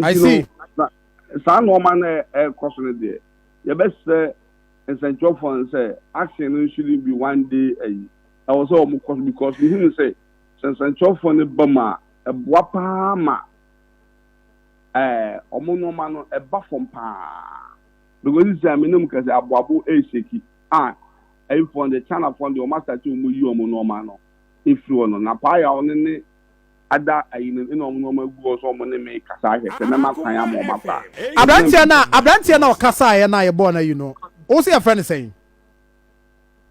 I see. saa nneɛma no ɛkɔ so no deɛ yɛbɛsrɛ nsɛnkyerɛfoɔ no sɛ action no shouldn't be one day ayi ɛwɔ sɛ wɔn kɔ so because mehu no sɛ sɛ nsɛnkyerɛfoɔ no ba mu a ɛboa paa ma ɛɛ wɔn nneɛma no ɛba fam paa because sisi a menim kɛse aboabo ɛreseki a ɛyifoɔ no deɛ chinafoɔ no deɛ wɔn asate wɔn yi wɔn nneɛma no efiri hɔ no na paa yɛ a wɔn ne ada ayinom na wɔn nneɛma agu hɔ sɛ wɔn ne me rekasa ahwɛ sɛ mɛma kwan ama wɔn akɔ a. Abranteɛ no a abranteɛ no a ɔkasaeɛ no a yɛbɔɔ no ayi no, wo se yɛfrɛ no sɛn?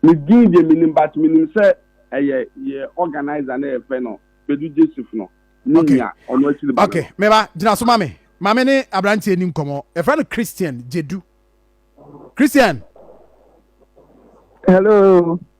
Ne din deɛ menim but menim sɛ ɛyɛ yɛ organiser no a yɛfrɛ no Kpedu Jessif no ne nua ɔno akyiri ba no. Okay, me ba, gyina so ma me. Ma me ne abranteɛ ni nkɔmmɔ. Yɛfrɛ no Christian Jedu. Christian! Hello.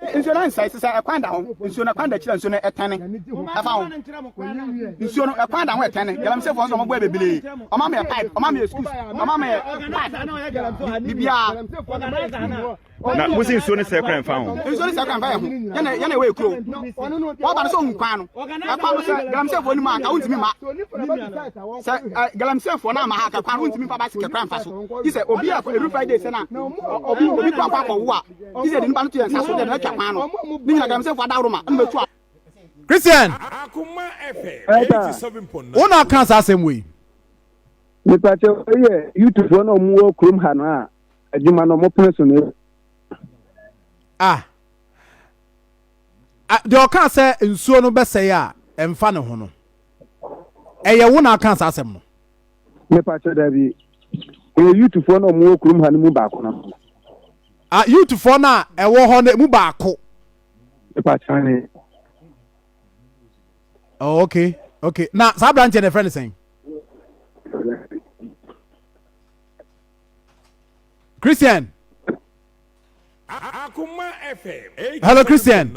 Nsuo no ansɛe te sɛ ɛkwan da ho. Nsuo no ɛkwan da kyerɛ nsuo no ɛtɛne ɛfa ho. Nsuo no ɛkwan da ho ɛtɛne. Galamseyfoɔ nso wɔn bɔ yɛ bebree. Wɔn ama yɛ pipe, wɔn ama yɛ schools, wɔn ama yɛ pipe, bibiara. Na mo si nsuo no sɛ kwan fa ho. Nsuo no sɛ kwan fa yɛ ho. Yɛna yɛna ɛwɔ ekuro. Wɔn ba no sɛ ohun kwan no. Ɛkwan no sɛ galamseyfoɔ ni mu anka wontumi ma. Sɛ ɛ galamseyfoɔ na ama ha ka kwan wontumi fa basikɛ kwan fa so. Yi sɛ obi a every Friday sɛ na obi obi kɔ akɔ akɔ wo a. christian wo na ɔka saa asɛm wei mepakyɛ yɛ youtubefoɔ na ɔmowɔ kurom ha no a adwuma no ɔmopene so no ah deɛ ɔka sɛ nsuo no bɛsɛe a ɛmfa ne ho no Ɛyɛ wo na aka saa asɛm no? Mepakyɛ dabi. Ɛyɛ youthfoɔ no a wɔwɔ kurom ha no mu baako no. Ah, youthfoɔ no a ɛwɔ hɔ no mu baako. Mepakyɛ ne. Oh, okay, okay. Na saa aberanteɛ no ɛfrɛ no sɛn? Christian. Hello, Christian.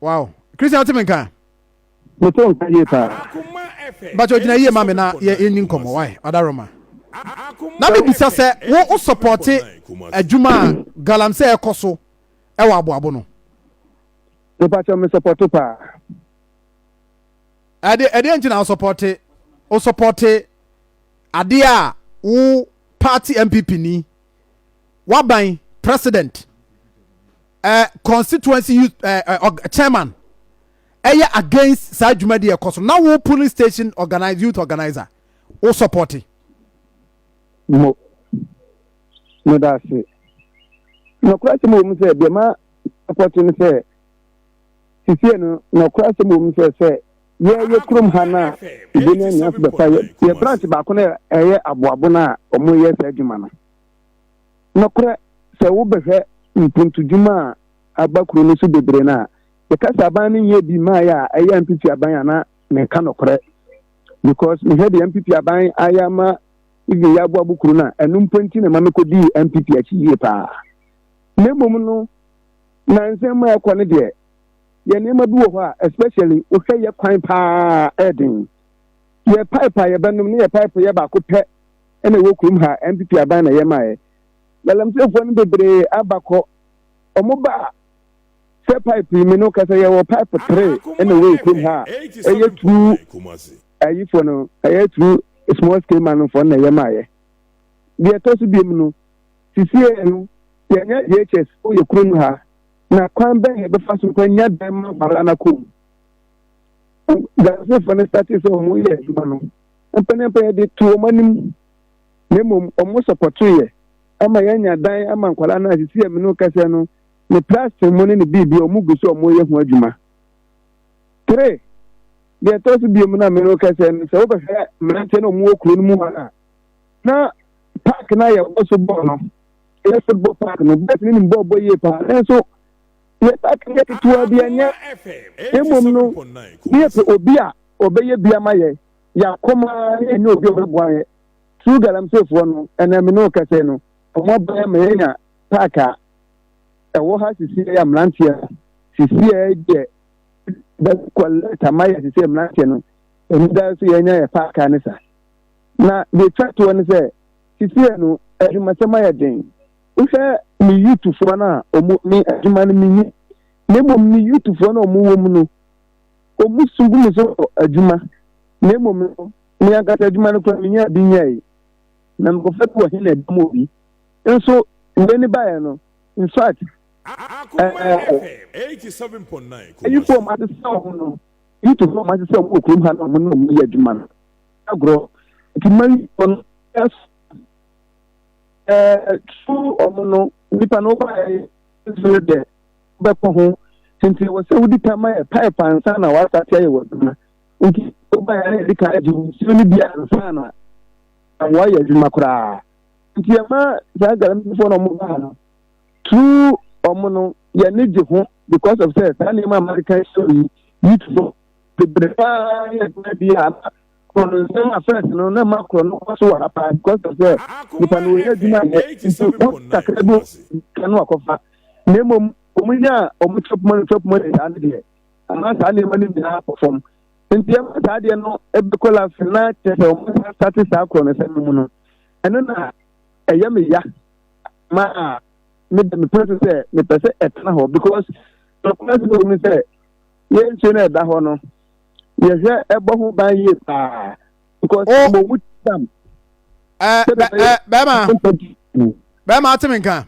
wow christian wote me nka mete nka yie paa but ogyina yie ma me na yɛni nkɔmmɔ wae adaroma na mebisa sɛ wo wo sɔpɔte adwuma a galam sɛ ɛkɔ so ɛwɔ aboabo no mepakyɛ me sɔpɔte paa ɛdeɛ nti na wo sɔpɔte wo sɔpɔte adeɛ a wo Party NPP ni, Waban President, eh, Constituency Youth eh, eh, org, Chairman, ɛyɛ against saa dwumadi a ɛkɔ so na wo polling station organize youth organizer wo support. Mo, mo da ase. Nɔkora sɛ mo wɔ mu sɛ deɛ ma support no sɛ sisie no nɔkora sɛ mo wɔ mu sɛ sɛ yɛyɛ kurom ha no a yɛbɛnya nnua so bɛfa yɛ yɛ branch baako no ɛyɛ aboabo no a wɔyɛ saa adwuma no nokorɛ sɛ wobɛhwɛ mpuntudwuma a aba kuro no so bebree no a yɛka sɛ aban no nyɛ bi maa yɛ a ɛyɛ mpp aban anaa meka nokorɛ because mehwɛ deɛ mpp aban ayɛ ama even yɛ aboabo kuro no a ɛno mpo nti na ɛma mekɔdii mpp akyi yie paa na mmom no na nsɛm ma ɛkɔ no deɛ yɛ nneɛma bi wɔ hɔ a especially wohwɛ yɛ kwan paa ɛyɛ den yɛ pipe a yɛbɛnom ne yɛ pipe yɛ baako pɛ ɛna ɛwɔ kurom ha npp aban na yɛ maɛ galamseefoɔ no bebree aba kɔ ɔmo ba a sɛ pipe yi mi no kasa yɛwɔ pipe tere ɛna ɛwɔ yɛ kurom ha a ɛyɛ turu ayifoɔ no ɛyɛ turu small scale man foɔ na yɛ maɛ deɛ ɛtɔ so biom no sisiɛ no yɛnyɛ DHS wɔ yɛ kurom ha na kwan bɛn na ɛbɛfa so kwan nya dan ma aware a n'akɔ mu gansefo no sate sɛ wɔn yɛ adwuma no mpɛnɛmpɛn yɛde to wɔn anim na mmom wɔn sɔpɔto yɛ ama yɛanya dan ama nkwadaa no asisi ɛmi no kɛseɛ no ne plastic mu ne ne biribi a wɔn gu so wɔn yɛ ho adwuma tere deɛ ɛtɔ so biom na mmiri kɛseɛ no sɛ wobɛhwɛ mmeranteɛ na wɔn wɔ kuro no mu hɔ a na paaki no a yɛwɔ so bɔɔl no ɛyɛ football park no boys no nim bɔɔl bɔ yie paa nanso yɛ park no yɛ ketewa bi ɛnyɛ mmom no ne yɛpɛ obi a ɔbɛyɛ bi ama yɛ yɛakɔma ne yɛnyɛ obi a ɔbɛboa yɛ true galamseefoɔ no ɛnna me ne wo kɛsɛ no wɔn abɛyɛ ma yɛnya park a ɛwɔ ha sisi yɛ mmeranteɛ no sisi yɛ deɛ bɛkɔ lɛta ma yɛ sisi yɛ mmeranteɛ no ɛmu da so yɛnya yɛ park a ne sa na deɛ twa toɔ ne sɛ Seesei no, adwumasɛm ayɛ den. Wohwɛ me youthfoɔ no a, wɔn, me adwuma no menni. Na mmom me youthfoɔ no a wɔwɔ mu no, wɔn su gu me so wɔ adwuma. Na mmom no, me ankasa adwuma no koraa menyaa bi nyɛe. Na mekɔfa bi wɔ he na ɛda mu obi. Nso wei no baeɛ no, in fact, ayifoɔ a wɔasesa wɔn no, youthfoɔ a wɔasesa wɔn wɔ kurom ha no a wɔne wɔn yɛ adwuma no, agorɔ nti mma yi wɔn ɛs ɛɛ tu wɔn no nipa no ba yɛ ɛsoro dɛ bɛkɔ ho nti wɔ sɛ wodi kan ma yɛ pipe ansa na wasa te ayɛ wɔ adwuma nti wo ba yɛ na yɛde kan agye nsuo no bi ansa na amoa yɛ adwuma koraa nti ɛma saa galamfoɔ na wɔn baa no tu wɔn no yɛne gye ho because of sɛ saa nneɛma a mmadeka ɛsoro yi yi tu bebree paa yɛ adwuma bi a na korɔ no nsɛm a fɛs no na ma korɔ no kɔ so wɔ ha paa because of sɛ nipa no wɔyɛ adwuma yɛ nti wɔn kakra bi ka no akɔfa na mmom wɔn nya a wɔn chop money chop money saa no deɛ ama saa nneɛma no nyinaa kɔ fam nti ɛma saa deɛ no ɛbɛkɔ lase na kyerɛ sɛ wɔn sa sate saa korɔ no nsɛm no mu no ɛno na ɛyɛ me ya ma me de me pɛ so sɛ mepɛ sɛ ɛtena hɔ because ɔkora so wɔ mu sɛ yɛn nsuo no ɛda hɔ no yɛhwɛ ɛbɔ ho ban yie paa because oh. mo mu tam. ɛɛ bɛ ɛɛ bɛɛma bɛɛma ate mi nka.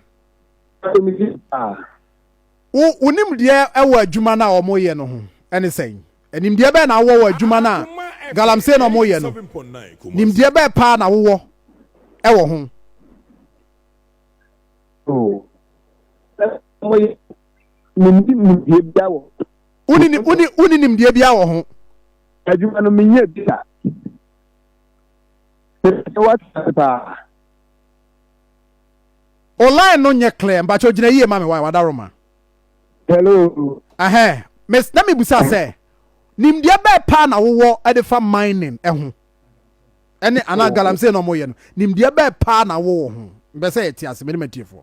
wo wo nimdeɛ ɛwɔ adwuma no a wɔn yɛ no ho ɛne sɛn nimdeɛ bɛɛ na awɔ wɔ adwuma no a galamsey na wɔn yɛ no nimdeɛ bɛɛ paa na wowɔ ɛwɔ ho. Oh. woni nimdeɛ biara wɔ ho adwuma no menyɛ bi a mepɛ wate paa online no nyɛ clear mpakyɛ gyina yie ma me wae wadaro ma hello ɛhɛn mes na mebusa sɛ nimdeɛ bɛɛ paa na wowɔ ɛde fa mining ɛho ɛne anaa galamsey na ɔmo yɛ no nimdeɛ bɛɛ paa na wowɔ ho bɛ sɛ yɛte ase mene matiefoɔ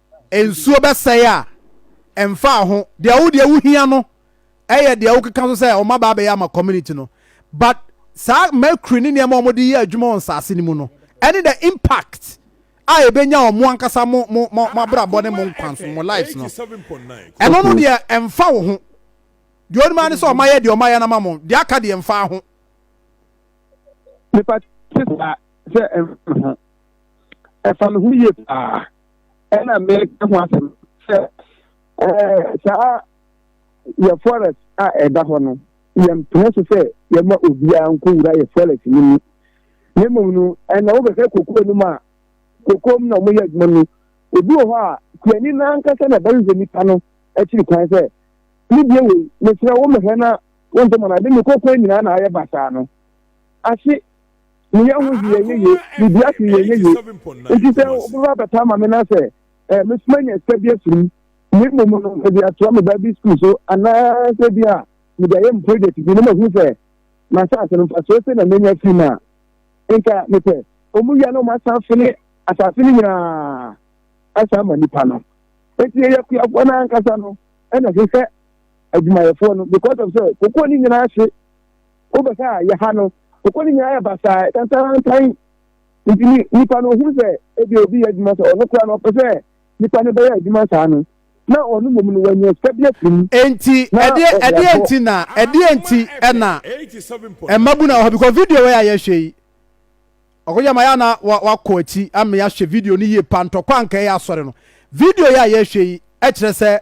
nsuo bɛsɛe a, ɛmfa ho. Deɛ wo deɛ wo hia no ɛyɛ deɛ wo keka so sɛ wɔn aba abɛyɛ ama community no. But saa mercury ne nneɛma a wɔn de yɛ adwuma wɔ nsaase no mu no, ɛne the impact a ɛbɛnya wɔn ankasa mo mo mo mo abrabɔ ne mo nkwa so mo lives no. Ɛno no deɛ ɛmfa wo ho. Deɛ onim ara ne sɛ wɔn ayɛ deɛ wɔn ayɛ no ama mo. Deɛ aka deɛ ɛmfa ho. Nipa te saa sɛ ɛmfa ho. Ɛfa ne ho yie paa. ɛna meka ho asɛm sɛ ɛɛ saa yɛ forest a ɛda hɔ no yɛmpene so sɛ yɛma obiara nkɔwura yɛ forest no mu na mmom no ɛna wobɛhwɛ kokoa no mu a kokoa mu na wɔyɛ adwuma no obi wɔ hɔ a kuani no ankasa na ɛbɛhwehwɛ nipa no akyiri kwan sɛ ne bie wei mesrɛ wo mehwɛ na wonte mɔ no ade ne kokoa nyinaa na ayɛ basaa no ase ne yɛ ho yɛ yɛ yɛ ne bi ase yɛ yɛ yɛ nti sɛ ɔbɛba abɛta ama me na sɛ ɛɛ mesoma nya sika bi afiri mu ne mmom no mede atoa me ba bi sukuu so anaasɛ bi a mede ayɛ me project bi ne mahu sɛ m'asase no mfasoɔ sɛ na menya firi mu a nka mepɛ ɔmu wia na ɔmo asan fene asase no nyinaa asan ama nipa no eti yɛ akuafoɔ no ankasa no ɛna hwehwɛ adwumayɛfoɔ no because of sɛ kokoɔ no nyinaa hye Wobɛ sɛ a, yɛ ha no. Ɔkɔ no nyinaa yɛ basaa, tantantan. Nti ni, nipa no ɔhunu sɛ ebia obi yɛ adwuma sɛ ɔno koraa no ɔpɛ sɛ nipa no bɛyɛ adwuma saa no, na ɔno mmom no wanya sika bi afiri mu. Nti ɛdeɛ ɛdeɛ nti na ɛdeɛ nti ɛna mmabunu a wɔ ha because video wei a yɛhwɛ yi. Ɔkɔgye ama yɛ a na wakɔ akyi ama yɛahwɛ video no yie pa, Ntɔkwa a Anka Ɛyɛ Asɔre no. Video yi a yɛrehwɛ yi kyerɛ sɛ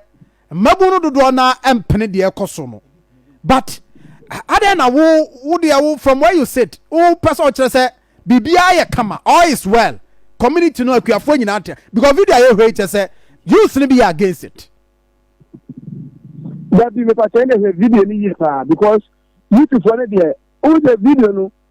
mmabun no dodoɔ no ara mpene deɛ ɛrekɔ so no. But adɛn na wo wo deɛ wo from where you sit wopɛ sɛ ɔkyerɛ sɛ biribiara yɛ kama, all is well, community no akuafoɔ nyinaa te because video a yɛhwɛ yi kyerɛ sɛ youths no bi yɛ against it. Dabi mepa kyɛ ɛna hwɛ video no yie paa because youthfoɔ no deɛ wohu sɛ video no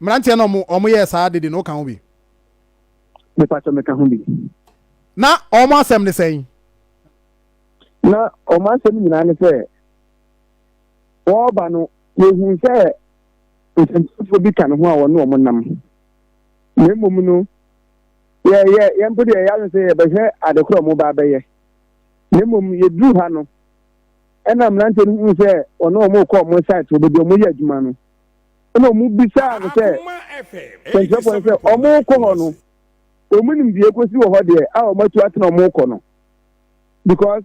Mmeranteɛ no a wɔyɛɛ saa ade de no, woka ho bi? Mepakyɛ meka ho bi. Na wɔn asɛm ne sɛn? Na wɔn asɛm nyinaa ne sɛ, wɔreba no, wɔhuu sɛ nsɛntwerɛfoɔ bi ka ne ho a wɔne wɔn nam. Na mmom no, yɛ, yɛ, yɛn mpo deɛ yɛ adwene sɛ yɛbɛhwɛ ade korɔ a wɔba abɛyɛ. Na mmom yɛduruu ha no, ɛna mmeranteɛ no huu sɛ wɔne wɔn rekɔ wɔn site, wɔbɛdi wɔn yɛ adwuma no. ɛnna wɔbisaa no sɛ, Kyerɛkyerɛfo no, sɛ wɔrekɔ hɔ no, wɔn nimdeɛ kosi wɔ hɔ deɛ a wɔatu atena wɔrekɔ no? Because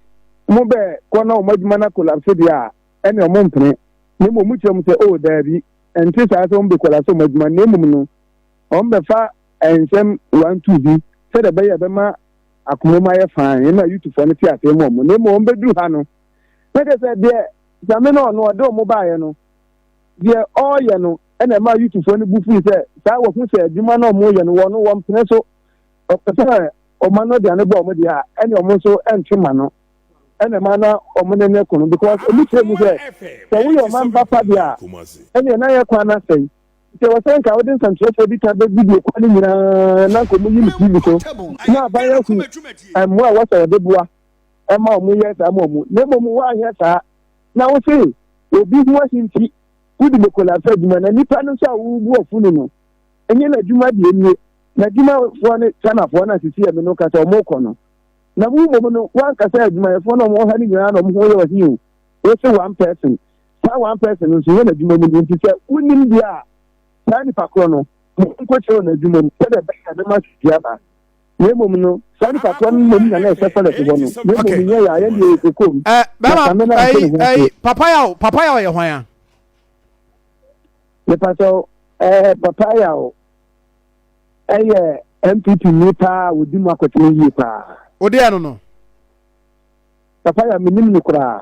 mobɛkɔ na wɔn adwuma no akɔlapse deɛ a, ɛnna wɔmpene. Na mmom mokyerɛ wɔn sɛ, Oh, daabi, ɛnte saa sɛ wɔbɛkɔlapse wɔn adwuma, na mmom no, wɔbɛfa nsɛm one two bi sɛdeɛ ɛbɛyɛ ɛbɛma akoma mu ayɛ fann, ɛnna Yutufo no te aseɛ ma wɔn. Na mmom wɔbɛduru ha no, na kyerɛ sɛ deɛ Nyame na ɔno ɔde wɔn baeɛ no, deɛ ɔreyɛ no na ɛmaa Yutufoɔ no bo fui sɛ saa wɔahu sɛ adwuma no a wɔreyɛ no wɔn no wɔmpene so, wɔpɛ sɛ wɔma no de ano bɔ wɔn deɛ a ɛne wɔn nso nte ma no na ɛma na wɔn ne no ko no because wɔn kyerɛ mu sɛ sɛ woyɛ ɔman ba pa deɛ a ɛneɛ na yɛ kwan no asɛe nti ɛwɔ sɛ nka wode nsɛnkyerɛfoɔ bi ka bɛ video kwan no nyinaa na nka wɔn yi no TV so na aban ahu mmoa a wɔsɛ wɔde boa ɛma wɔn yɛ saa ma wɔn na mmom wɔanyɛ saa na wose obi ho ahi nti wodi bokolafo adwuma na nipa no nso a wobu ɔfo ni no nyɛ n'adwuma deɛ nie n'adwumafoɔ ne Ghanafoɔ na sisi ɛme no kasa ɔmo kɔ no na mu mmom no wankasa adwumayɛfoɔ na ɔmo wɔ ha no nyinaa na ɔmo ho yɛ ɔhi o wose one person saa one person no nso nyɛ n'adwuma mu ni nti sɛ wonim deɛ a saa nipa korɔ no mo nkɔkyerɛ wɔ n'adwuma mu sɛdeɛ bɛyɛ a bɛma sisi aba na mmom no saa nipa korɔ no mmom na na ɛsɛ sɛ lɛte hɔ no na mmom nyɛ yɛ ayɛ deɛ ɛkɔm papa yaw papa yaw yɛ hwan a nipa sɛ eh, papa yaw ɛyɛ mpp ni paa a wɔdi mu akɔtena yie paa wodeɛ no no papa yaw menim no koraa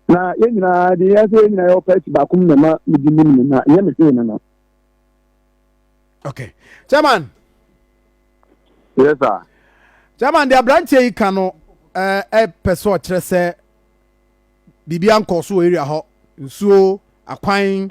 na yɛn nyinaa deɛ yɛsɛ yɛn nyinaa yɛwɔ pɛsi baako mu na ma medi mu no na yɛ me hwee no no okay chairman. yes sir. chairman de aberanteɛ yi ka no ɛɛ eh, ɛpɛ eh, sɛ ɔkyerɛ sɛ biribi ankɔ so wɔ area hɔ nsuo akwan